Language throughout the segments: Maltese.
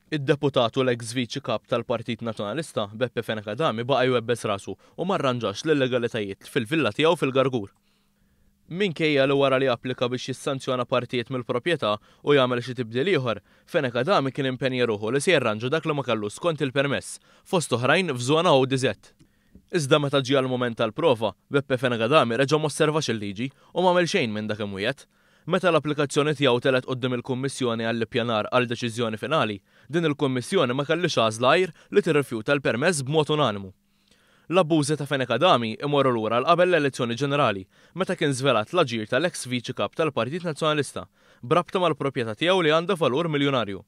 Id-deputat u l-eks viċi kap tal-Partit Nazzjonalista, Beppe Fenech Adami baqa' jwebbes rasu u ma rranġax l-illegalitajiet fil-villa tiegħu fil-Gargur. Minkejja li wara li applika biex jissanzjona partijiet mill-proprjetà u jagħmel xi tibdil ieħor, Fenech Adami kien impenja ruħu li se jirranġa dak li ma kellux skont il-permess, fost oħrajn f'żona ODZ. Iżda meta ġie għall-mument tal-prova, Beppe Fenagadhami reġa' m'osservax il-liġi u m'għamel xejn minn dak imwiegħed. Meta l-applikazzjoni tiegħu telgħet quddiem il-Kummissjoni għall-Ippjanar għal deċiżjoni finali, din il-Kummissjoni ma kellhiex għażla għajr li tirrifjuta l-permess b'mod unanimu. L-abbużi ta' Fenagadhami imorru lura għal qabel l-elezzjoni ġenerali, meta kien żvelat l-aġir tal-eks Viċi Kap tal-Partit Nazzjonalista b'rabta mal-propjetà tiegħu li għandha valur miljunarju.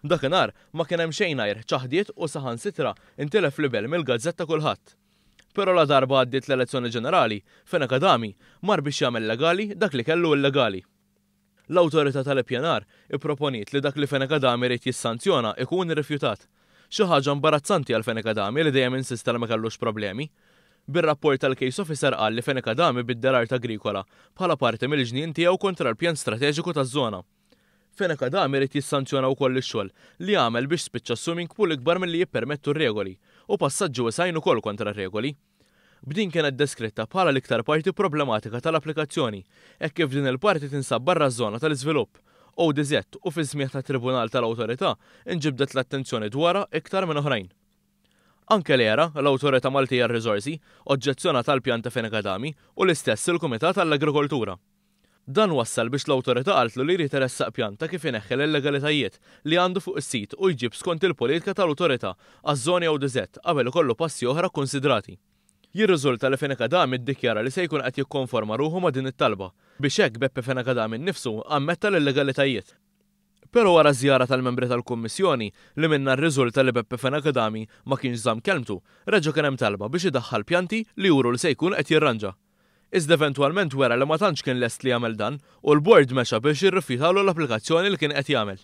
Dakinhar ma kien hemm xejn għajr ċaħdiet u saħansitra ntilef libel mill-gazzetta kulħadd. Però la darba għaddiet l-elezzjoni ġenerali, Fenech Adami mar biex jagħmel legali dak li kellu illegali. L-Awtorità tal-Ippjanar ipproponiet li dak li Fenech Adami ried jissanzjona ikun irrifjutat. Xi ħaġa imbarazzanti għal Fenech Adami li dejjem insista li ma kellux problemi. Bir-rapport tal-Case Officer qal li Fenech Adami biddel art agrikola bħala parti mill-ġnien tiegħu kontra l-pjan strateġiku taż-żona. Fenech Adam irid jissanzjona wkoll ix-xogħol li għamel biex spiċċa swimming pool ikbar milli jippermettu r-regoli u passaġġi wesgħin ukoll kontra r-regoli. B'din kienet deskritta bħala l-iktar parti problematika tal-applikazzjoni hekk kif din il-parti tinsab barra ż-żona tal-iżvilupp ODZ u fis-smigħ tat-Tribunal tal-Awtorità nġibdet l-attenzjoni dwarha iktar minn oħrajn. Anke l-ERA, l-Awtorità Maltija għar-Riżorsi, oġġezzjonat għall-pjan ta' Fenech Adami u l-istess il-Kumitat għall-Agrikoltura. Dan wassal biex l-Awtorità qaltlu li jrid iressaq pjan ta' kif ineħħi l-illegalitajiet li għandu fuq is-sit u jġib skont il-politika tal-Awtorità għaż-Żoni ODZ qabel ikollu passi oħra kkunsidrati. Jirriżulta li Fenacadam iddikjara li se jkun qed jikkonforma ruħu ma' din it-talba, biex hekk Beppe Fenacadam innifsu ammetta l-illegalitajiet. Però wara ż-żjara tal-membri tal-Kummissjoni, li minnha rriżulta li Beppe Fenacadami ma kienx żamm kelmtu, reġa' kien hemm talba biex idaħħal pjanti li juru li se jkun qed jirranġa. iżda eventwalment wera li ma tantx kien lest li jagħmel dan u l-Bord mexa biex jirrifjutalu l-applikazzjoni li kien qed jagħmel.